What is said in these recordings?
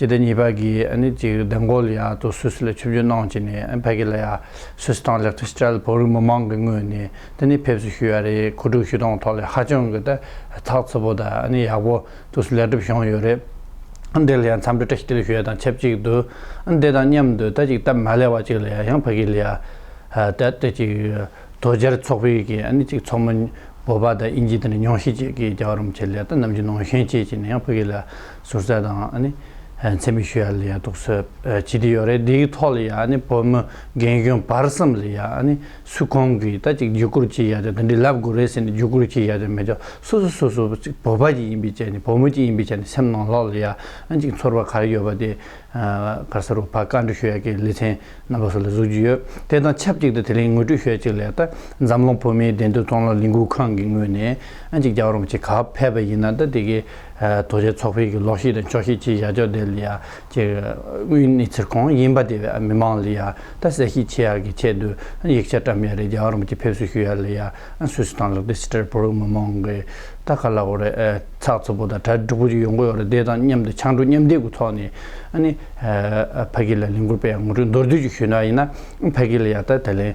གཅིག་དང་གཉིས་པ་གིས་ཨ་ནི་ཅིག་བདེན་གོ་ལ་ཡ་ཏོ་སུད་སི་ལ་ཆུབ་རྒྱུ་གནང་ཅིག་ནས་ཕ་གི་ལ་ཡ་སུད་སི་དང་ལེགས་ཏོ་སྤྱི་ར་ལ་བོད་རིགས་མི་མང་གི་ངོས་ནས་དེ་ནི་ཕེབས་བསུ་ཞུས་ཡ་རེད་ཁུ་དྲུག་ཞུས་སྟངས་ཐོག་ལ་ཧ་ཅང་གི་ཏེ་ཐག་ཚི་པོ་དང་ཨ་ནི་ཡག་པོ་ཏུ་སུ་ལེགས་གྲུབ་བྱུང་ཡོད་རེད་འདི་ལ་ཡ་འཚམས་འདྲི་བཀྲ་ཤིས་བདེ་ལེགས་ཞུ་ཡ་དང་ཆབས་ཅིག་ཏུ་འདི་དང་མཉམ་དུ་ད་ཅིག་སྟབས་མ་ལེགས་བ་ཅིག་ལ་ཡ་ཡང་ཕ་གི་ལ་ཡ་ཏེ་ཏེ་ཅིག་དོ་རྒྱལ་ཚོགས་པའི་གིས་ཨ་ནི་ཅིག་ཚོགས་མི་བོད་པ་དང་དབྱིན་ཇི་དེ་ནས་ཉུང་ཤས་ཅིག་གིས་རྒྱ་གར་རུམ་ཆེ་ལས་ཏེ་ནམ་རྒྱུན་ནང་བཞིན་བྱེད་ཅིག་ནས་ཡང་ཕ་གི་ལ་ཡ་ཟུར་ཟ་དང་འཚེ་མེད་ཞུ་ཡ་ལ་ཡང་དུག་སོལ་ཇི་ལྟེ་ཡོད་རེད་དེའི་ཐོག་ལ་ཡང་བོད་མི་རྒན་གཞོན་བར་གསུམ་ལ་ཡང་སུས་གང་གི་ད་ཅིག་བརྒྱུད་སྐུར་བྱེད་ཡ་དེ་འདི་འདྲི་ལབ་དགོས་རེད་ཟེར་ནས་བརྒྱུད་སྐུར་བྱེད་ཡ་དེ་མེད་ཀྱང་སོ་སོ་སོ་སོ་ཅིག་བོད་པ་ཅིག་ཡིན་པའི་ཆ་ནས་བོད་མི་ཅིག་ཡིན་པའི་ཆ་ནས་སེམས་ནང་ལྷོག་ལ་ཡང་ཅིག་ཚོར་བ་ག་རེ་ཡོད་པ་དེ་ག་ས་རུ་ཕ་བཀའ་འདྲི་ཞུ་ཡ་ཀྱི་ལེ་ཚན་རྣམ་པ་སུ་ལ་གཟུགས་རྒྱུ་ཡོད་དེ་དང་ཆབས་ཅིག་ཏུ་དེ་རིང་ངོས་སྤྲོད་ཞུ་ཡ་ཅིག་ལ་ད་འཛམ་གླིང་བོད་མིའི་བདེན་དོན་མཐོང་སློབ་ལས་འགུལ་ཁང་གི་ངོས་ནས་ཅིག་རྒྱ་གར་རོམ་ཆེ་ག་བ་ཕེབས་པ་ཡིན་ན་ད་དེ་གའི་རྡོ་རྗེ་ཚོགས་ཕེབས་ཀྱི་ལོགས་ཤིག་དང་ཕྱོགས་ཤིག་ཅེས་བཞག་ཕྱོགས་དེ་ལི་ཡ་ཀྱི་དབུས་གནས་ཚེར་གོང་ཡིན་པ་དེ་བས་མི་མང་ལི་ཡ་ད་གསལ་བཤད་བྱེད་ཡག་གི་ཆེད་དུ་ཡིག་ཆ་བཀྲམ་ཡ་རེད་རྒྱ་གར་མི་ཀྱི་ཕེབས་བསུ་ཞུ་ཡ་ལི་ཡ་སུད་སི་ཐང་ལག་དེ་སི་ཏྲེར་བོར་མི་མང་གི་ད་ག་ལ་འོ་རེད་ཚགས་ཚུད་པོ་དང་གྲ་འགྲིག་པོ་ཅིག་ཡོང་གི་འོ་རེད་དེ་དང་མཉམ་དུ་ཆང་འགྲོས་མཉམ་འདེགས་ཀུ་ཚོགས་ནས་ཨ་ནི་ཕ་གི་ལ་ལིང་གུར་པའི་ངོ་སྤྲོད་མདོར་བསྡུས་ཅིག་ཞུས་ན་ཡིན་ན་ཕ་གི་ལི་ཡ་ད་དེ་ལན།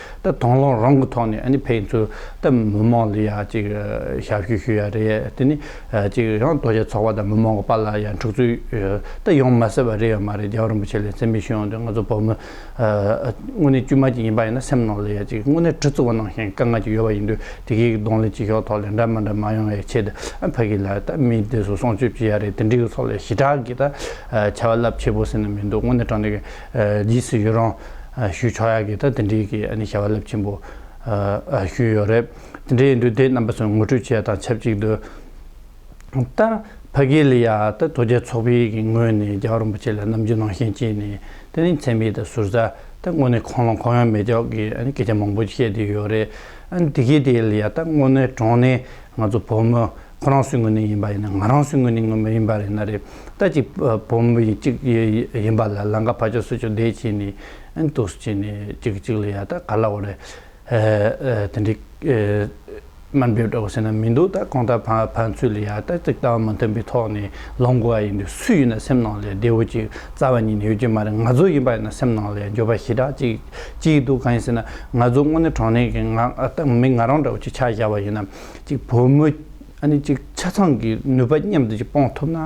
ད་དང་ལོག་རང་གི་ཐོག་ནས་ཨནི་ཕེང་ཚོས་ད་མི་མང་ལ་ཡང་ཅིག་ཞབས་ཞུ་ཞུ་ཡ་རེད་དེ་ནི་ཅིག་ཡང་རྡོ་རྗེ་ཚོགས་པ་དང་མི་མང་གི་པར་ལ་ཡང་འཁྲུག་རྩོད་ད་ཡོང་མ་ཟེར་བ་རེད་ཡོད་མ་རེད་རྒྱལ་བ་རིན་པོ་ཆེ་ལས་མཚན་དམིགས་ཞུ་ཡོང་དུས་ང་ཚོ་བོད་མི་དངོས་གནས་དཀྱུས་མ་ཅིག་ཡིན་པ་ཡིན་ན་སེམས་ནང་ལ་ཡང་ཅིག་དངོས་གནས་གྲི་བཙིར་བ་ནང་བཞིན་དཀའ་ངལ་ཅིག་ཡོད་པ་ཡིན་དུས་དེ་གའི་གདོང་ལེན་བྱེད་ཤོག་ཐོག་ལེན་འདྲ་མི་འདྲ་མ་ཡོང་བའི་ཆེད་དུ་ཕ་གི་ལ་ད་མི་དེ་ཚོ་སྲོང་བཅོས་བྱེད་ཡ་རེད་དེ་འདྲའི་ཚོགས་ལས་ཞི་དྲག་གིས་ད་བྱ་བ་རླབས་ཆེ་པོ་ཟེར་ན་མི་འདུག་དངོས་གནས་དྲང་བདེན་གྱི། རྗེས་སུ་ཡི་རང་ཞུ་ཆོག་ཡག་གི་ད་དེ་འདྲའི་གི་ཨ་ནི་བྱ་བ་རླབས་ཆེན་པོ་ཞུས་ཡོད་རེད་དེ་འདྲའི་འདུས་སྡེ་རྣམ་པ་ཚོ་ངོ་སྤྲོད་བྱས་དང་ཆབས་ཅིག་ཏུ་ད་ཕ་གི་ལི་ཡ་ད་དོ་རྒྱལ་ཚོགས་པའི་གི་ངོས་ནས་རྒྱ་གར་རིན་པོ་ཆེ་ལ་ནམ་རྒྱུན་ནང་བཞིན་བྱས་ནས་དེ་རིང་འཚེ་མེད་ད་ཟུར་ཟ་ད་དངོས་གནས་ཁོང་ལ་གང་ཡང་མེད་ཅོག་གི་ཨ་ནི་སྐད་ཆ་མང་པོ་བཤད་དེ་ཡོད་རེད་ཨ་ནི་དེ་གི་དེ་ལི་ཡ་ད་དངོས་གནས་དྲང་གནས་ང་ཚོ་བོད་མོ་ཁོ་རང་སུའི་ངོས་ནས་ཡིན་པ་ཡིན་ན་ང་རང་སུའི་ངོས་ནས་ངོ་མི་ཡིན་པ་རེད་ན་རེད་ད་གཅིག་བུ་མོ་གཅིག་ཡིན་པ་ལ་ལང་ཀ་ཕ་ཅོ་སུ་ཅོ་བསྡད་ཅེས་ནས་འདུག་ཅེས་ནས་གཅིག་གི་གཅིག་ལ་ཡ་ད་ག་ལ་འོ་རེད་དེ་འདྲའི་དམའ་འབེབས་འདྲ་བོ་བྱེད་ན་མི་འདུག་ད་གང་ལྟར་ཕན་ཚུན་ལ་ཡ་ད་གཅིག་ལྟ་བ་མ་མཐུན་པའི་ཐོག་ནས་ལོང་དགོས་པ་ཡིན་དུས་སུ་ཡིན་ན་སེམས་ནང་ལས་བདེ་བོ་ཅིག་རྩ་བ་ཉིད་ནས་ཡོད་ཀྱི་མ་རེད་ང་ཚོ་ཡིན་པ་ཡིན་ན་སེམས་ནང་ལས་འགྱོད་པ་ཞེ་དྲག་ཅིག་སྐྱེས་འདུག་གང་ཡིན་ཟེར་ན་ང་ཚོ་དངོས་གནས་གྲོང་ནས་མི་ང་རང་འདྲ་བོ་ཅིག་ཆ་བཞག་པ་ཡིན་ན། གཅིག་བུ་མོ་ཨ་ནེ་གཅིག་ཆ་ཚང་གི་ནུས་པ་མཉམ་དུ་ཅིག་སྤོང་ཐུབ་ན་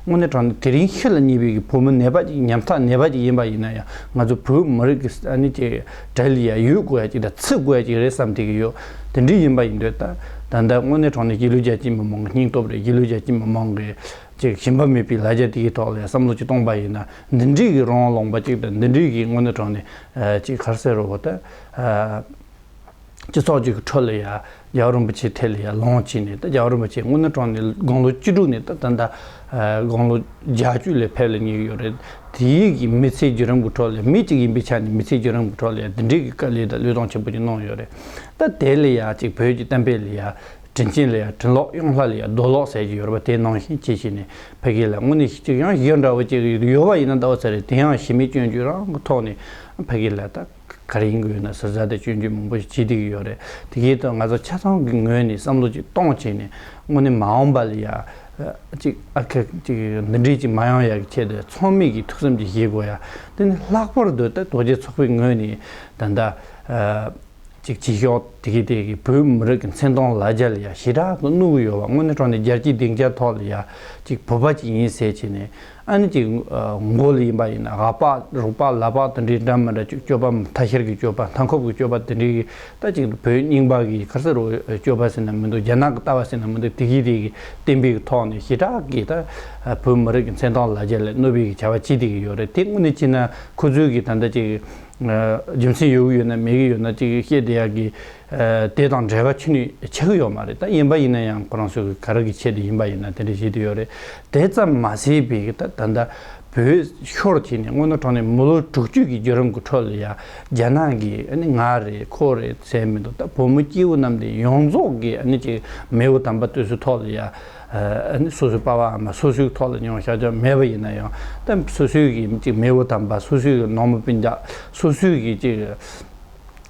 དངོས་གནས་དྲང་ན་དེ་རིང་ཤི་ལ་ཉེ་བའི་གི་བུ་མོ་ནད་པ་ཅིག་ཉམ་ཐག་ནད་པ་ཅིག་ཡིན་པ་ཡིན་ན་ཡང་ང་ཚོ་བོད་མི་རིགས་ཀྱི་ཨ་ནེ་གཅིག་བྲེལ་ཡས་ཡོད་དགོས་ཡ་ཅིག་དང་ཚུད་དགོས་ཡ་ཅིག་རེད་བསམ་ཐིག་གི་ཡོད་དེ་འདྲི་ཡིན་པ་ཡིན་འདོད་ད་ལྟ་དངོས་གནས་དྲང་ན་གཞིས་ལུས་རྒྱ་ཆེའི་མི་མང་གི་སྙིང་སྟོབས་རེད་གཞིས་ལུས་རྒྱ་ཆེའི་མི་མང་གི་ཅིག་ཞིམ་པ་མེད་པའི་ལ་རྒྱ་དེའི་ཐོག་ལ་ཡང་བསམ་བློ་ཅིག་གཏོང་པ་ཡིན་ན་འདི་འདྲིའི་གི་རོང་ལོངས་པ་ཅིག་དང་འདི་འདྲིའི་གི་དངོས་གནས་དྲང་ནས་ཅིག་ཁར་སེ་རོ་བོ་ད་སྤྱི་ཚོགས་ཀྱི་ཁྲོད་ལ་ཡང་རྒྱལ་བ་རིན་པོ་ཆེའི་ཐད་ལ་ཡང་ལོངས་སྤྱད་ནས་རྒྱལ་བ་རིན་པོ་ཆེ་སྔོན་ནུ་གྲོང་ནས་དགུང་ལོ་བཅུ་དྲུག་ནས་ད་ལྟ་དགུང་ལོ་བརྒྱ་བཅུ་ལས་ཕེབས་ལ་ཉེ་ཡོད་རེད། དེ་ཡིག་གི་མི་ཚེའི་བརྒྱུད་རིམ་གྱི་ཁྲོད་ལ་མི་གཅིག་ཡིན་པའི་ཆ་ནས་མི་ཚེའི་བརྒྱུད་རིམ་གྱི་ཁྲོད་ལ་ཡང་འདི་འདྲའི་དཀའ་ལས་དང་ལུས་སྟོང་ཆེན་པོ་ཅིག་གནང་ཡོད་རེད། ད་དེ་ལ་ཡང་ཅིག་བོད་ཀྱི་གཏམ་དཔེ་ལ་ཡང་དྲིན་ཆེན་ལ་ཡང་དྲིན་ལོག་གཡང་ལྷ་ལ་ཡང་རྡོ་ལོག་ཟེར་གྱི་ཡོད་རེད་པ་དེ་ནང་བཞིན་བྱས་བྱས་ནས་ཕ་གི་ལ་དངོས་གནས་ཤི་གཅིག་གཡང་བཞི་འདྲ་བོ་བྱེད་ཀྱི་ཡོད་པ་ཡིན་ན་ཟླ་བ་ཚེ་རིང་དེའང་ཞི་མི་སྐྱོན་བརྗོད་རང་གི་ཐོག་ནས་ཕ་གི་ལ་ད་ག་རེ་ཡིན་དགོས་ན་ཟུར་ཟ་དང་སྤྱོད་འཇུག་མང་པོ་ཞིག་བྱེད་བསྡད་ཀྱི་ཡོད་རེད། དེ་གའི་ཐོག་ང་ཚོ་ཆ་ཚང་གི་ངོས་ནས་བསམ་བློ་ཅིག་གཏོང་བྱས་ནས་དངོས་གནས་མ་འོངས་པ་ལ་ཡ། ཅིག་ཨ་ཁ། ཅིག་འདི་འདྲས་ཅིག་མ་ཡོང་ཡ་གི་ཆེད་དུ་ཚོགས་མི་གིས་ཐུགས་བསམ་ཅིག་བཞེས་དགོས་ཡ། དེ་ནི་ལྷག་པར་དུ་ད་རྡོ་རྗེ་ཚོགས་པའི་ངོས་ནས་ད་ལྟ། ཅིག་བྱེད་ཞོག་དེ་གའི་ཐད་ཀྱི་བོད་མི་རིགས་ཀྱི་མཚན་མཐོང་ལ་རྒྱ་ལ་ཡ་ཞེ་དྲག་ཏུ་བསྣུར་གྱི་ཡོད་པ་དངོས་གནས་དྲོ་ནས་རྒྱལ་སྤྱིའི་སྡིངས་ཆ་ཐོག་ལ་ཡ། ཅིག་བོད་པ་ཅིག་ཡིན་ཟེར་བྱས་ནས། ཨ་ནི་གྱི་མགོ་ལ་ཡིན་པ་ཡིན་ན་ཧ་པག་རུག་པག་ལ་པག་དེ་འདྲའི་འདྲ་མི་འདྲ་སྐྱོད་པ་མཐའ་ཤར་གྱི་སྐྱོད་པ་མཐའ་འཁོབ་ཀྱི་སྐྱོད་པ་དེ་འདྲའི་གི་རྟ་གཅིག་ལ་བོད་རྙིང་པ་གི་ཁར་ས་རུ་སྐྱོད་པ་ཟེར་ན་མི་འདུག་རྒྱ་ནག་གི་རྟ་བ་ཟེར་ན་མི་འདུག་དེ་གི་རིགས་ཀྱི་གཏན་འབེབས་ཀྱི་ཐོག་ནས་ཞི་དྲག་གིས་ད་བོད་མི་རིགས་ཀྱི་མཚན་མཐོང་ལ་རྒྱ་ལས་གནོད་པའི་གི་བྱ་བ་བྱེད་བསྡད་ཀྱི་ཡོད་རེད་དེ་དངོས་གནས་ཅི་ན་ཁོ་ཚོའི་གི་ད་ལྟ་ཅིག་རྒྱུ་མཚན་ཡོད་གི་ཡོད་ན་མེད་གི་ཡོད་ན་ཅིག་བཤད་བསྡད་ཡག་གི། དེ་དང་འབྲེལ་བ་ཆུ་ནི་ཆགས་ཀྱི་ཡོད་མ་རེད་ད་ཡིན་པ་ཡིན་ན་ཡང་ཁོ་རང་ཚོ་གི་ག་རེ་གི་ཆེད་དུ་ཡིན་པ་ཡིན་ན་དེ་འདྲ་བྱེད་དུ་ཡོད་རེད་དེ་ཙམ་མ་ཟད་པའི་གི་ད་ད་བོད་ཤོར་བྱས་ནས་སྔོན་ནོ་གྲོང་ནས་མི་ལོ་དྲུག་བཅུ་གི་རྒྱུད་རམ་གི་འཕྲོ་ལ་ཡང་རྒྱ་ནག་གི་ང་རེད་ཁོ་རེད་ཟེར་མི་འདུག་ད་བོད་མི་སྐྱེ་བོ་རྣམས་དེ་ཡོངས་རྫོགས་གི་ནི་ཅིག་མེས་བོ་དམ་པ་བསྟོད་སུའི་ཐོག་ལ་ཡང་སོ་སོའི་པ་བ་འམ་སོ་སོའི་ཐོག་ལ་ཉོང་ཤག་ཅག་མེད་པ་ཡིན་ན་ཡང་ད་སོ་སོའི་གི་ཅིག་མེས་བོ་དམ་པ་སོ་སོའི་གི་ནང་མི་པིན་ཅག་སོ་སོའི་གི་ཅིག་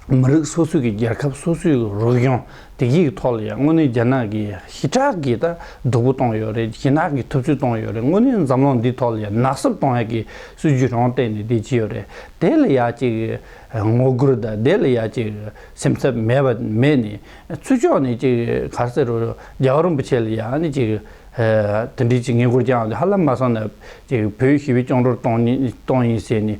མི་རིགས་སོ་སོའི་རྒྱལ་ཁབ་སོ་སོའི་རུལ་སྦྱོང་སྡིག་ཡིག་ཐོག་ལ་ཡང་དངོས་གནས་རྒྱ་ནག་གིས་ཞི་དྲག་གིས་ད་སྡུག་པོ་གཏོང་ཡོད་རེད་ཞི་དྲག་གིས་ཐུབ་ཚོད་གཏོང་ཡོད་རེད་དངོས་གནས་འཛམ་གླིང་འདི་ཐོག་ལ་ཡང་ནག་གསུབ་གཏོང་ཡག་གི་སྲིད་ཇུས་རང་སྟེང་ནས་དེ་བྱས་ཡོད་རེད་དེ་ལ་ཡག་ཅིག་ངོ་རྒོལ་དང་དེ་ལ་ཡག་ཅིག་སེམས་འཚབ་མེད་པ་མེད་ནས་ཚུར་ཕྱོགས་ནས་ཅིག་གར་སེ་རུ་རྒྱལ་བ་རིན་པོ་ཆེ་ལ་ཡང་ནས་ཅིག། དེ་འབྲེལ་གྱི་ངེས་སྒུར་བསྐྱངས་ཏེ་ཧ་ལམ་མ་གསང་ན་བོད་ཞི་བའི་སྐྱོང་གྲོར་གཏོང་ཡིན་ཟེར་ནས་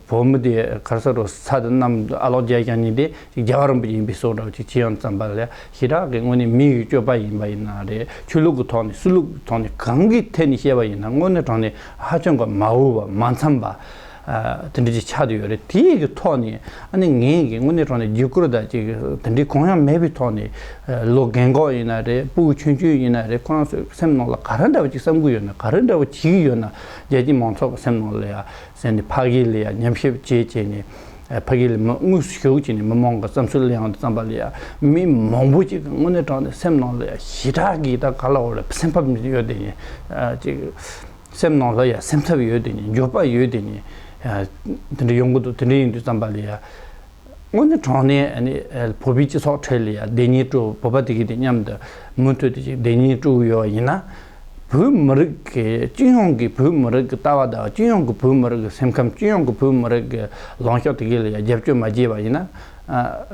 བོད་མི་དེ་གར་ས་རུ་ས་དེ་གནམ་དུ་ཨ་ལོག་རྒྱལ་བསྐྱངས་ཉིན་དེ་རྒྱ་གར་རིན་པོ་ཆེ་ཡིན་པའི་སྲོག་འདྲ་བོ་ཅིག་ཇི་ཡང་བརྩམས་པ་ལས་ཞི་དྲག་གི་དངོས་གནས་མིའི་སྤྱོད་པ་ཡིན་པ་ཡིན་ན་རེད་ཆོས་ལུགས་ཀྱི་ཐོག་ནས་སྲིད་ལུགས་ཀྱི་ཐོག་ནས་གང་གི་ཐད་ནས་བཤད་པ་ཡིན་ན་དངོས་གནས་དྲང་ནས་ཧ་ཅང་གི་མ་འོས་པ་མ་འཚམས་པ་དེ་འབྲེལ་གྱི་ཆ་དེ་ཡོད་རེད་དེའི་གི་ཐོག་ནས་ཨ་ནི་ངས་གི་དངོས་གནས་དྲང་ནས་རྒྱུ་སྐུར་དང་ཅིག་དེ་འདྲའི་གོང་ཡང་མེད་པའི་ཐོག་ནས་ལོ་རྒན་གོག་ཡིན་ན་རེད་སྤུ་གུ་ཆུན་ཆུན་ཡིན་ན་རེད་ཁོ་རང་ཚོས་སེམས་ནང་ལ་ག་རེ་འདྲ་བ་ཅིག་བསམ་གི་ཡོད་ན་ག་རེ་འདྲ་བ་བྱེད་ཀྱི་ཡོད་ན་རྒྱལ་སྤྱིའི་མང་ཚོགས་ཀྱི་སེམས་ནང་ལ་ཡ་ཟེར་ནས་ཕ་གི་ལ་ཡ་ཉམས་ཞིབ་བྱེད་ཅེས་ནས་ཕ་གི་ལ་མི་དངོས་སུ་ཞུགས་ཅེས་ནས་མི་མང་གི་བསམ་ཚུལ་གླེང་བར་བརྩམས་པ་ལ་ཡ་མི་མང་པོ་ཅིག་གི་དངོས་གནས་དྲང་ནས་སེམས་ནང་ལ་ཡ་ཞེ་དྲག་གིས་ད་ག་ལ་འོ་ལ་སེམས་ཕབ་ཡོད་དེ་ཅིག་སེམས་ནང་ལ་ཡང་སེམས་འཚབ་ཡོད་དེ་ནི་འགྱོད་པ་ཡོད་དེ་ནི་དེ་འདྲ་ཡོང་གི་འདུག་དེ་འདྲ་ཡིན་དུས་བསམ་པ་ལ་ཡང། དངོས་གནས་དྲང་གནས་ནི་བོད་པའི་སྤྱི་ཚོགས་ཁྲོད་ལ་ཡང་བདེན་གཉིས་སྤྲོ་བོད་པ་དེ་གས་དེ་མཉམ་དུ་མུ་མཐུད་དེ་བདེན་གཉིས་སྤྲོ་གི་ཡོད་ཡིན་ན། བོད་མི་རིགས་ཀྱི་སྤྱི་ཡོངས་ཀྱི་བོད་མི་རིགས་ཀྱི་ལྟ་བ་དང་སྤྱི་ཡོངས་ཀྱི་བོད་མི་རིགས་ཀྱི་སེམས་ཁམས་སྤྱི་ཡོངས་ཀྱི་བོད་མི་རིགས་ཀྱི་ལངས་ཕྱོགས་དེ་གས་ལ་ཡང་རྒྱབ་སྐྱོར་མ་བྱས་པ་ཡིན་ན།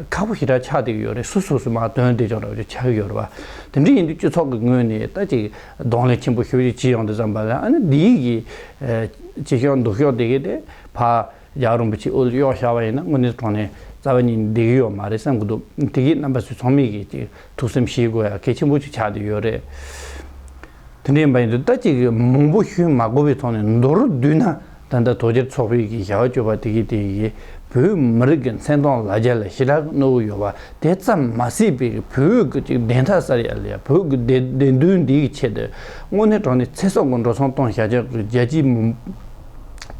ཁག་པོ་ཞེ་དྲག་ཆགས་དེ་གི་ཡོད་རེད་སུ་སོ་སོས་མ་བཏོན་དེ་ཅོང་ར་བ་ཅོ་ཆགས་ཀྱི་ཡོད་རེད་བ། དེ་འདྲ་ཡིན་དུས་སྤྱི་ཚོགས་ཀྱི་ངོས་ནས་ལྟ་ཅིག། གདོང་ལས་ཆེན་པོ་ཤུགས་ཀྱིས་ཅི་ཡང་དུ་བརྩམས་པ་ལ་ཨ་ནི་འདིའི་གི། ཅི་ཤོག་འདུག་ཤོག་དེ་གི་དེ། ཕ། རྒྱག་རིན་པོ་ཆེའི་དབུ་གཡོག་ཤར་བ་ཡིན་ན་དངོས་གནས་གྲོང་ནས་རྩ་བ་ཉིད་འདེགས་ཡོད་མ་རེད་བསམ་གྱི་འདུག་དེ་གི་རྣམ་པ་ཚོས་ཚང་མས་གི་ཐུགས་སེམས་ཤེས་དགོས་ཡ་གལ་ཆེན་པོ་ཅིག་ཆགས་དུ་ཡོད་རེད། དེ་འདྲ་ཡིན་པ་ཡིན་དུས་ལྟ་ཅི་གི་མང་པོ་ཞུས་མ་གོ་བའི་ཐོག་ནས་མདོར་བསྡུས་ན་ད་ལྟ་དོལ་རྒྱལ་ཚོགས་པའི་གིས་བྱ་བ་སྤྱོད་པ་དེ་གིས་དེ་ཡིས་བོད་མི་རིགས་ཀྱི་མཚན་དོང་ལ་རྒྱ་ལ་ཞི་དྲག་གི་གནོད་འོ་ཡོད་པ་དེ་ཙམ་མ་སྲིད་པའི་གིས་བོད་གི་གཅིག་བདེན་མཐའ་གསར་ཡ་ལ་ཡ་བོད་གི་བདེ་བདེན་དོན་འདི་གི་ཆེད་དུ་དངོས་གནས་གྲོང་ནས་ཚེ་སྲོག་གི་འགྲོ་སོང་གཏོང་བཞག་བྱ་གི་རྒྱལ་སྤྱིའི་མི་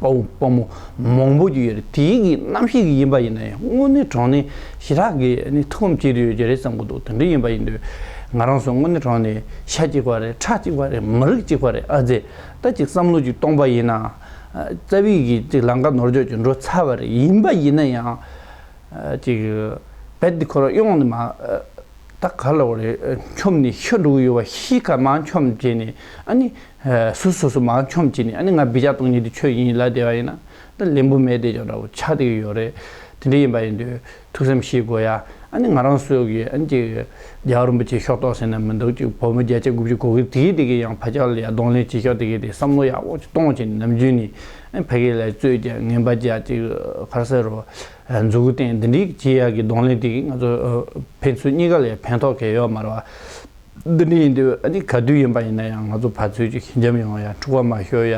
དཔའ་བོ་དཔའ་མོ་མང་པོ་གིས་ཡོད་རེད་དེ་གིས་རྣམ་ཤེས་གིས་ཡིན་པ་ཡིན་ན་ཡང་དངོས་གནས་གྲོང་ནས་ཞི་དྲག་གིས་ནི་ཐུགས་ཕམ་བྱེད་རེ་ཡོད་ཀྱི་རེད་བསམ་གི་འདུག་དེ་འདྲ་ཡིན་པ་ཡིན་དུས་ང་རང་སུ་དངོས་གནས་གྲོང་ནས་ཤ་གཅིག་པ་རེད་ཁྲག་གཅིག་པ་རེད་མི་རིགས་གཅིག་པ་རེད་ཨ་ཛེ་ད་ཅིག་བསམ་བློ་ཅིག་གཏོང་པ་ཡིན་ན། རྩ་བའི་གི་ཅིག་ལང་ཀ་ནོར་འཇོག་ཅིག་འགྲོ་ཚར་བ་རེད་ཡིན་པ་ཡིན་ན་ཡང། ཅིག་རྦད་དེ་ཁོ་རང་གཡོག་ནི་མ། ད་ག་ལ་བ་རེད་འཁྱོམ་ནི་ཤི་འགྲོ་གི་ཡོད་བ་ཤི་ཁ་མ་འཁྱོམ་བྱས་ནས་ཨ་ནི། སུ་སོ་སོ་མ་འཁྱོམ་བྱས་ནས་ཨ་ནི་ང་བི་ཅག་སྟོང་ཉིད་དུ་ཆོས་ཡིན་ལ་བསྡད་པ་ཡིན་ན། ད་ལན་བུ་མེད་བསྡད་ཀྱང་འདྲ་བོ་ཆགས་བསྡད་ཀྱི་ཡོད་རེད་དེ་འདྲ་ཡིན་པ་ཡིན་དུས། ཐུགས་བསམ་ཤེས་དགོས་ཡ། ཨ་ནི་ང་རང་བསོད་གི་ཨ་ནི་ཀྱི། རྒྱལ་བ་རིན་པོ་ཆེ་ཤོག་ཏོག་ཟེར་ན་མི་འདུག་ཅིག་བུ་མོ་བརྒྱད་ཅུ་དགུ་བཅུ་གོ་གི་དེའི་དེ་གི་ཡང་ཕ་ཅག་ལ་ཡ་གདོང་ལེན་བྱེད་ཤོག་དེ་གི་དེ་བསམ་བློ་ཡ་འོག་ཅིག་གཏོང་བྱེད་ནམ་རྒྱུན་ནི་ཨ་ཕ་གི་ལ་བཙོས་ཀྱ་ངན་པ་བརྒྱ་ཅིག་ཕར་ཟེར་རོ། མཛུ་གུ་བསྟན་འདི་འདྲིའི་གི་བྱེད་ཡ་གི་གདོང་ལེན་དེ་གི་ང་ཚོ་ཕན་ཚུན་གཉིས་ཀ་ལ་ཡ་ཕན་ཐོག་ག་ཡོད་མ་རེད་བ། འདི་འདྲ་ཡིན་དུས་ག་དུས་ཡིན་པ་ཡིན་ན་ཡང་ང་ཚོ་ཕར་ཚུར་གྱི་ཁྱི་འཇམ་ཡོང་བ་ཡང་འཁྲུག་པ་མ་ཤོར་ཡ།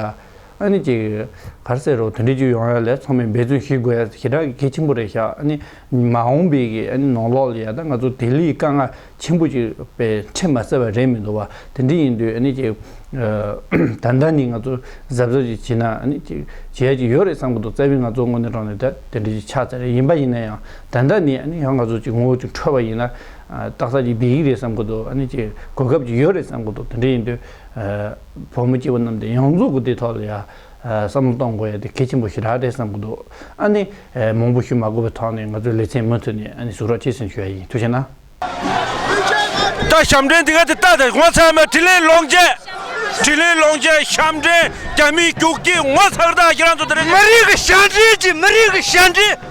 ཨཱ་ནི། གར་ཟེར་རོགས་དེ་འདྲའི་རྒྱུ་ཡོང་ཡ་ལས་ཚང་མས་འབད་བརྩོན་ཞིག་དགོས་ཡ་ཞེ་དྲག་གི་གལ་ཆེན་པོ་རེད་བཞག་ཨཱ་ནི། མ་འོངས་པའི་གི་ཨཱ་ནི་ནང་ལོགས་ལ་ཡ་ད་ང་ཚོ་དེ་ལས་དཀའ་ངལ་ཆེན་པོ་ཞིག་པའི་འཕྲད་མ་སེ་བ་རེད་མི་འདུག་བ་དེ་འདྲ་ཡིན་དུས་ཨཱ་ནི། ད་ལྟ་ནས་ང་ཚོ་གཟབ་གཟབ་ཅིག་བྱེད་ན་ཨཱ་ནི། བྱེད་ཡ་ཅིག་ཡོད་རེད་བསམ་གི་འདུག་རྩ་བའི་ང་ཚོ་དངོས་གནས་དྲང་ནས་ད་དེ་འདྲ་ཅིག་ཆགས་ཚར་ཡ་ཡིན་པ་ཡིན་ན་ཡང་ད་ལྟ་ནས་ཨཱ་ནི་ཡང་ང་ཚོ་ཅིག་ངོ་བོ་ཅིག་འཕྲོད་པ་ཡིན་ན། བཏགས་ས་ཅིག་བསྡད་ཡིག་རེད་བསམ་གི་འདུག་ཨ་ནི་ཅིག་གོ་སྐབས་ཅིག་ཡོད་རེད་བསམ་གི་འདུག་དེ་འདྲ་ཡིན་དུས། བུ་མོ་སྐྱེས་བུ་རྣམས་དེ་ཡོངས་རྫོགས་ཀྱི་དེའི་ཐོག་ལ་ཡང། བསམ་བློ་གཏོང་དགོས་ཡ་དེ་གལ་ཆེན་པོ་ཞིག་རག་རེད་བསམ་གི་འདུག་ཨ་ནི། མང་པོ་ཞུ་མ་དགོས་པའི་ཐོག་ནས་ང་ཚོའི་ལེ་ཚན་མུ་མཐུད་ནས་ཨ་ནི་ཟུག་རག་བྱས་ཟིན་ཞུ་ཡ་ཡིན་ཐུགས་ཆེ་ན། ད་ཞབས་འདྲེན་དེ་ག་དེ་བཏགས་ཏེ་ངོ་ཚར་མ་དྲིན་ལན་ལོག་འཇལ། དྲིན་ལན་ལོག་འཇལ་ཞབས་འདྲེན་རྒྱ་མིའི་རྒྱུག་ཁྱི་ངོ་ཚར་བདག་གིས་རང་ཚོ་དེ་རིང། མི་རིགས་ཞབས་འདྲེན་གྱིས་མི་རིགས་ཞབས་འདྲེན།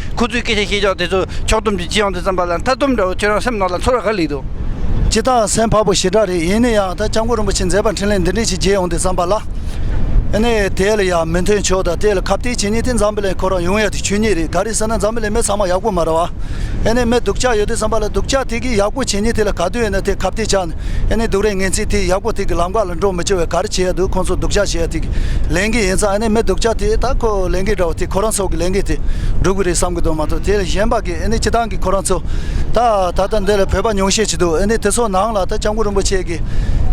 ཁོ་ཚོའི་སྐད་ཆ་ཤེས་ཀྱང་དེ་ཚོ་ཕྱོགས་སྡོམ་གྱི་སྤྱི་ཡོངས་དུ་བརྩམས་པ་ལ་མཐའ་སྡོམ་འདྲ་བོ་ཁྱོད་རང་སེམས་ནང་ལ་འཚོར་བ་ག་ལེགས་འདུག། སྤྱི་དང་སེམས་འཕགས་པོ་ཞེ་དྲག་རེད་ཡིན་ན་ཡང་ད་སྐྱབས་མགོན་རིན་པོ་ཆེ་མཛད་པ་འཕྲིན་ལས་འདི་འདྲས་ཞིག་རྒྱས་ཡོང་དུས་བརྩམས་པ་ལ་ནི་དེ་ལ་ཡང་མི་མཐུན་ཕྱོགས་དང་དེ་ལ་ཁ་བརྟའི་བྱས་ཉེས་དེ་འཛམ་བུ་ལའི་ཁོ་རང་ཡོང་ཡ་དེ་ཆོས་ཉིད་རེད་ག་རེ་ཟེར་ན་འཛམ་བུ་ལའི་མི་ཚང་མ་ཡག་པོ་མ་རེད་བ། ཨེ་ནས་མི་སྡུག་ཅག་ཡོད་དུས་བརྩམས་པ་ལ་སྡུག་ཅག་དེ་གིས་ཡག་པོ་བྱས་ཉེས་དེ་ལ་ག་དུས་ཡིན་ན་དེ་ཁ་བརྟའི་ཆ་ནས་ཨེ་ནས་སྡུག་རེད་ངན་ཚིག་ཐིག་ཡག་པོ་ཐིག་གི་ལམ་ཁ་ལ་འགྲོ་མི་བྱེད་བའི་ག་རེ་བྱེད་ཡ་འདུག་ཁོང་ཚོ་སྡུག་ཅག་བྱེད་ཡ་ཐིག་ལན་གི་ཡིན་ཙང་ཨེ་ནས་མི་སྡུག་ཅག་དེ་ད་ཁོ་ལན་གི་འདྲ་བ་ཐིག་ཁོ་རང་ཚོ་གི་ལན་གི་དེ་འགྲུབ་གི་རེད་བསམ་གི་འདུག་མ་གཏོགས་དེ་ལས་གཞན་པ་གི་ཨེ་ནས་སྤྱི་བཏང་གི་ཁོ་རང་ཚོ་ད་ད་ལྟ་འདི་ལ་བོད་པ་ཉུང་ཤས་ཅིག་འདུག་ཨེ་ནས་དེ་ཚོ་ནང་ལ་ད་ལྕམ་སྐུ་རིན་པོ་ཆེ་གི་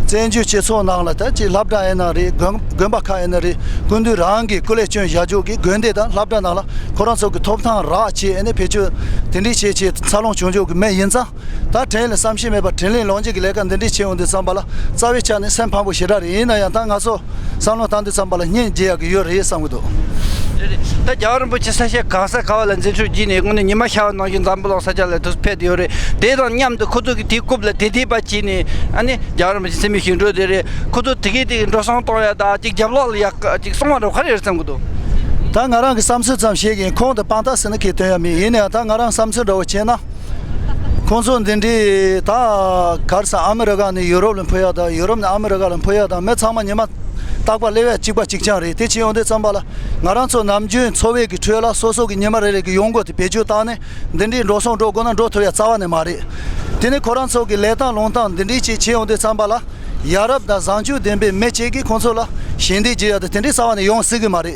བཙན་བྱོལ་སྤྱི་ཚོགས་ནང་ལ་ད་ཅིག་ལྷ་བྲ་ཨེ་ན་རེ་དགོན་དགོན་པ་ཁ་ཨེ་ན་རེ་སྐུ་མདུན་རང་གི་སྐུ་ལས་སྐྱོན་བཞག་འཇུག་གི་དགོན་སྡེ་དང་ལྷ་བྲ་ནང་ལ་ཁོ་རང་ཚོ་གི་ཐོབ་ཐང་རག་བྱེད་ཨེ་ནས་བེད་སྤྱོད་དེ་འདྲི་བྱེད་ཆེད་འཚར་ལོངས་བྱུང་འཇུག་གི་མི་ཡིན་ཙང། ད་དྲན་ལ་བསམ་ཤེས་མེད་པར་དྲིན་ལན་ལོག་འཇལ་གྱི་ལས་ཀ་འདི་འདྲས་བྱས་འོང་དུས་བསམ་པ་ལ་རྩ་བའི་ཆ་ནས་སེམས་ཕམ་པོ་ཞེ་དྲག་རེད་ཡིན་ན་ཡང་ད་ང་ཚོ་བསམ་བློ་བཏང་དུས་བསམ་པ་ལ་སྙིང་རྗེ་ཡག་གི་ཡོད་རེད་བསམ་གི་འདུག། རེད་རེད་ད་རྒྱ་བ་རིན་པོ་ཆེ་ས་ཞིང་གང་ས་ག་བ་ལ་འཛིན་ཆོག་བགྱིས་ནས་སྔོན་ནས་ཉི་མ་ཤར་བ་ནང་བཞིན་འཛམ་བུ་གླིང་ས་ཆ་ལ་དུས་ཕེབས་དུ་ཡོད་རེད་དེ་དང་མཉམ་དུ་ཁོ་ཚོ་གིས་དེ་རྐུབ་ལ་དེ་དེད་པ་བྱས་ནས་ཨ་ནི་རྒྱ་བ་རིན་པོ་ཆེ་སེམས་མི་ཞིག་འགྲོ་བསྡད་རེད་ཁོ་ཚོ་དེ་གས་དེ་གས་འགྲོ་སོང་གཏོང་ཡ་ད་ཅིག་རྒྱབ་ལོག་ལ་ཡག་ག་ཅིག་སོང་བ་འགྲོ་ག་རེ་རེད་བསམ་གི་འདུག། ད་ང་རང་གི་བསམ་ཚུལ་ཙམ་བཤད་གིན་ཁོང་དང་དཔང་རྟགས་ཟེར་ན་ཁེ་དོན་ཡ་མེད་ཡིན་ན་ཡང་ད་ང་རང་བསམ་ཚུལ་འདྲ་བོ་བྱས་ན། ཁོང་ཚོ་འདི་འདྲའི་ད་གར་སང་ཨ་མི་རི་ཀ་ནས་ཡུ་རོབ་ལ་འཕུད་ཡག་དང་ཡུ་རོབ་ནས་ཨ་མི་རི་ཀ་ལ་འཕུད་ཡག་དང་མི་ཚང་མ་ཉི་མ་རྟག་པར་ལེ་བས་གཅིག་པ་གཅིག་རྐྱང་རེད་དེ་ཕྱིན་ཡོང་དུས་བརྩམས་པ་ལ་ང་རང་ཚོ་ནམ་རྒྱུན་འཚོ་བའི་གི་ཁྲོད་ལ་སོ་སོ་གི་ཉི་མ་རེ་རེ་གི་ཡོང་སྒོ་དེ་བེད་སྤྱོད་བཏང་ནས་འདི་འདྲའི་འགྲོ་སོང་འགྲོ་དགོས་ན་འགྲོ་ཐུབ་ཡ་རྩ་བ་ནས་མ་རེད་དེ་ནས་ཁོ་རང་ཚོ་གི་ལས་སྟངས་ལུང་སྟངས་འདི་འདྲའི་ཅིག་ཕྱིན་ཡོང་དུས་བརྩམས་པ་ལ་ཡ་རབས་དང་བཟང་སྤྱོད་ལྡན་པའི་མི་གཅིག་གིས་ཁོང་ཚོ་ལ་ཞལ་འདེབས་བགྱི་ཡ་དེ་དེ་འདྲའི་རྩ་བ་ནས་ཡོང་སྲིད་གི་མ་རེད།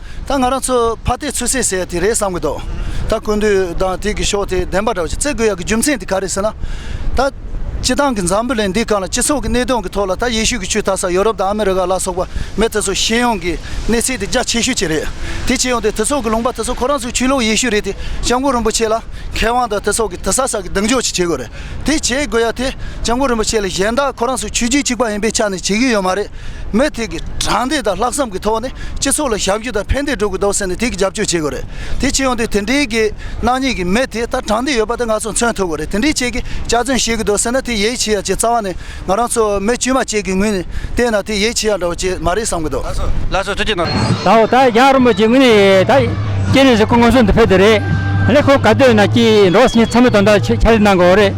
ད་ང་རང་ཚོས་ཕ་སྟེ་ཚོད་ཟས་ཟེར་ཡ་དེ་རེད་བསམ་གི་འདུག་ད་ཀུན་དུ་དང་ཐིག་གི་ཤོག་དེ་བདེན་པ་འདྲ་བ་ཞིག་བརྩི་དགོས་ཡག་གི་རྒྱུ་མཚན་དེ་ག་རེད་ཟེར་ན། ད། སྤྱི་བཏང་གི་འཛམ་བུ་གླིང་འདིའི་སྐབས་ལ་སྤྱི་ཚོགས་ཀྱི་གནད་དོན་གྱི་ཐོག་ལ་ད་ཡེ་ཤུ་གི་ཆུ་ད་ས་ཡོ་རོབ་དང་ཨ་མི་རི་ཀ་ལ་སོགས་པ་མི་དེ་ཚོ་ཤེས་ཡོང་གི་གནས་ཚད་དེ་རྒྱ་ཆེ་ཤོས་ཅིག་རེད་དེ་ཆེ་ཡོང་དེ་དེ་ཚོགས་ཀྱི་ལུང་པ་དེ་ཚོ་ཁོ་རང་ཚོའི་ཆོས་ལུགས་ཡེ་ཤུ་རེད་དེ་སྤྱང་པོ་རིན་པོ་ཆེ་ལ་མཁས་དབང་དང་དེ་ཚོགས་ཀྱི་དེ་ས་ས་གི་གདེང་འཇོག་ཅིག་བྱེད་དགོས་རེད་དེ་བྱེད་དགོས་ཡ་དེ་སྤྱང་པོ་རིན་པོ་ཆེ་ལ་གཞན་དག་ཁོ་རང་ཚོའི་ཆོས་རྒྱུད་གཅིག་པ་ཡིན་པའི་ཆ་ནས་བྱེད་ཀྱི་ཡོད་མ་རེད། མུ་མཐུད་ཀྱི་དྲང་བདེན་དང་ལྷག་བསམ་གྱི་ཐོག་ནས་སྤྱི་ཚོགས་ལ་ཞབས་ཞུ་དང་ཕན་བདེ་སྒྲུབ་དགོས་འདུག་ཟེར་ནས་དེ་གི་རྒྱབ་སྐྱོར་བྱེད་དགོས་རེད་དེ་ཕྱི་ཡོང་དུས་དེ་འདྲའི་གི་སྣང་ཉིད་ཀྱི་མི་དེ་ལྟར་དྲང་བདེན་ཡོད་པ་དེ་ང་ཚོ་མཚོན་ཐུབ་དགོས་རེད་དེ་འདྲའི་ཆེད་ཀྱི་གཅར་རྩོན་བྱེད་གི་འདུག་ཟེར་ན་དེ་ཡའི་ཆི་ཡ་ཆེ་རྩ་བ་ནས་ང་རང་ཚོ་མི་དཀྱུས་མ་བཅས་ཀྱི་ངོས་ནས་བལྟས་ན་དེ་ཡའི་ཆི་ཡ་འདྲ་བོ་ཅིག་མ་རེད་བསམ་གི་འདུག། ལ་སོ་ཐུ་ཅི་ནོར། ད་འོ་ད་རྒྱ་རོ་མོ་ཅི་ངོས་ནས་ད་སྐྱེ་ནས་ཟི་ཁོ་ངོ་སོ་འདི་ཕེ་དེ་རེད། ལེ་ཁོ་ག་དོན་ན་ཀྱི་འགྲོ་བ་སི་ཉི་ཚ་མི་དོན་དག་ཆ་ལེ་གནང་གི་འོ་རེད།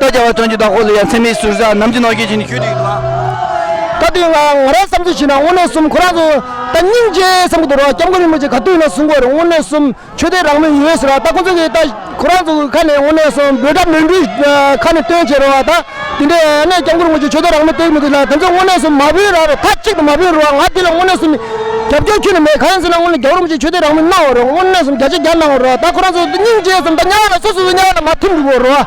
ལྟོ་སྐྱ་བ་བཙོན་གྱི་བདག་པོ་ལ་ཡང་མཚན་མེད་ཟུར་ཟ་ནམ་གྱི་ནོར་གྱིས་བྱིན་གྱིས་ཞུས་འདུག་ད་ལྟའི་ང་ང་རང་བསམ་ཚུལ་བཞིན་ན་དངོས་གནས་གསུམ་ཁོ་རང་ཚོ་ད་སྙིང་རྗེ་བསམ་གྱི་འདུག་རོགས་སྐྱབས་མགོན་རིན་པོ་ཆེ་ག་དུས་ན་གསུང་སྐོར་དངོས་གནས་གསུམ་ཆོས་དད་རང་མོས་ཡོད་ཟེར་བ་ད་ཁོང་ཚོ་གིས་ད་ཁོ་རང་ཚོ་གི་ཁ་ནས་དངོས་གནས་གསུམ་འབོད་སྒྲ་མོས་འབྲུའི་ཁ་ནས་སྟོན་བྱེད་རོགས་ད་དེ་འདྲས་ཨ་ནེ་སྐྱབས་མགོན་རིན་པོ་ཆེ་ཆོས་དད་རང་མོས་སྟོན་མི་འདུག་ལ་དེ་ཚོ་དངོས་གནས་གསུམ་མ་བོས་ར་རོ་མཐའ་གཅིག་ཏུ་མ་བོས་རོགས་ང་དེ་ལ་དངོས་གནས་གསུམ་རྒྱབ་སྐྱོར་ཁྱོན་ནས་མེད་གང་ཡིན་ཟེར་ན་དངོས་གནས་སྐྱབས་རིན་པོ་ཆེ་ཆོས་དད་རང་མོས་གནང་བ་རོགས་དངོས་གནས་གསུམ་བརྒྱ་ཆ་བརྒྱ་གནང་བ་རོགས་ད་ཁོ་རང་ཚོ་ད་སྙིང་རྗེ་བསམ་ད་དམྱལ་བ་ལ་སོ་སོ་སོ་དམྱལ་བ་ལ་མ་ཐིམ་འགྲོ་དགོས་རོགས།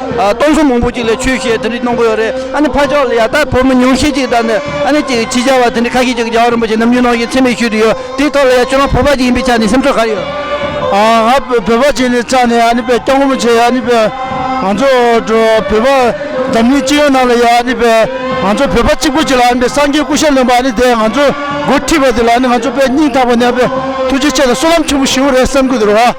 སྟོང་གསུམ་མང་པོ་གཅིག་ལས་ཆོས་བཤད་དེ་འདྲའི་གནང་པོ་ཡོད་རེད་ཨ་ནི་ཕ་ཕྱོགས་ལ་ཡག་རྟགས་ཕོ་མོ་ཉུང་ཤས་ཅིག་དང་ནི་ཨ་ནི་ཅིག་ཅི་བྱ་བ་དེ་འདྲའི་ཁ་ཤས་ཅིག་རྒྱ་བ་རིན་པོ་ཆེ་ནམ་རྒྱུན་གནང་བཞིན་འཚེ་མེད་ཞུས་དུ་ཡོད་དེའི་ཐོག་ལ་ཡང་ཁྱོད་རང་བོད་པ་ཅིག་ཡིན་པའི་ཆ་ནས་སེམས་ཚོར་ག་རེ་ཡོད། ང་བོད་པ་ཅིག་ནས་ཙང་ནས་ཨ་ནི་པའི་སྐྱབས་མགོན་པོ་ཆེ་ཨ་ནི་པའི་ང་ཚོ་བོད་པ་འཛམ་གླིང་སྤྱི་ཡོངས་ནང་ལ་ཡང་ཨ་ནི་པའི་ང་ཚོ་བོད་པ་གཅིག་པོ་ཅིག་ལ་ཨ་ནི་པའི་སངས་རྒྱས་སྐུ་ཞབས་ལོན་པ་ཨ་ནི་དེས་ང་ཚོ་མགོ་ཁྲིད་པ་དེ་ལ་ཨ་ནི་ང་ཚོ་པའི་སྙིང་ཐག་པ་ནས་ཨ་ནི་པའི་ཐུགས་རྗེ་ཆེ་དང་གསོལ་ལམ་ཆེན་པོ་ཞུ་རེད་བསམ་གི་འདུག་རོ།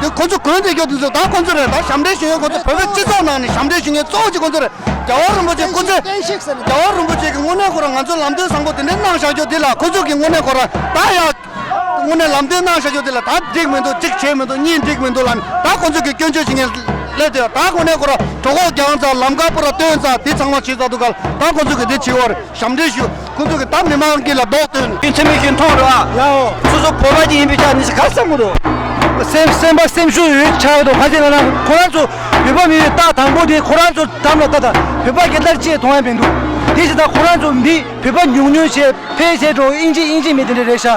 དེ་ཁོ་ཚོ་གོས་འདྲེ་ཁྱོ་དེ་ཚོ་ད་ཁོ་ཚོ་རེད་ད་ཞབས་འདྲེ་ཞུ་མཁན་ཁོ་ཚོ་བོད་པའི་སྤྱི་ཚོགས་ནང་ནས་ཞབས་འདྲེ་ཞུ་མཁན་གཙོ་བོ་གཅིག་ཁོ་ཚོ་རེད་རྒྱ་བ་རིན་པོ་ཆེ་སྐུ་ཚེ་རྒྱ་བ་རིན་པོ་ཆེ་གི་དངོས་གནས་ཁོ་རང་ང་ཚོ་ལམ་སྟོན་བཟང་པོ་དེ་འདྲས་གནང་བཞག་རྒྱུ་དེ་ལ་ཁོ་ཚོ་གི་དངོས་གནས་ཁོ་རང་ད་ཡག་དངོས་གནས་ལམ་སྟོན་གནང་བཞག་རྒྱུ་དེ་ལ་ད་འགྲིག་མི་འདུག་གཅིག་བྱས་མི་འདུག་གཉིས་འགྲིག་མི་འདུག་ལ་ནི་ད་ཁོ་ཚོ་གི་སྐྱོན་བརྗོད་བྱེད་མཁན་སླེབས་དེ་ད་དངོས་གནས་ཁོ་རང་གྲོ་ཁོག་རྒྱང་ཙང་ལམ་དཀར་པོ་ར་སྟོན་ཙང་དེ་ཚང་མ་བྱེད་ཙང་འདུག་ག་ལ་ད་ཁོ་ཚོ་གི་དེ་བྱས་བ་རེད་ཞབས་འདྲེ་ཞུ། ཁོ་ཚོ་གི་ད་མི་མང་གི་ལ་རྡོག་བཏོན། རྒྱུ་མཚན་མི་ཞིག་མཐོང་རུང་ཨ། ཡ་ཧོ། སོ་སོ་བོད་པ་ཅིག་ཡིན་པའི་ཆ་ནས་ཤི་ཁ་སང་གོ་རུ། སེམས་སེམས་པ་སེམས་ཤུགས་ཡོད་ཆགས་འདུག་ཁ་ཅིག་ལ་ན་ཁོ་རང་ཚོ་བོད་པ་མིན་པའི་རྟགས་དང་པོ་དེ་ཁོ་རང་ཚོ་དམ་ལ་བཏགས་དང་བོད་པ་སྐད་དར་ཆེ་མཐོང་ཡ་མི་འདུག་དེ་བཞིན་དང་ཁོ་རང་ཚོ་འདི་བོད་པ་ཉུང་ཉུང་བྱས་ཕལ་ཆེར་འགྲོ་ཨིན་ཇི་ཨིན་ཇི་མི་དེ་འདྲ་རེད་ཤག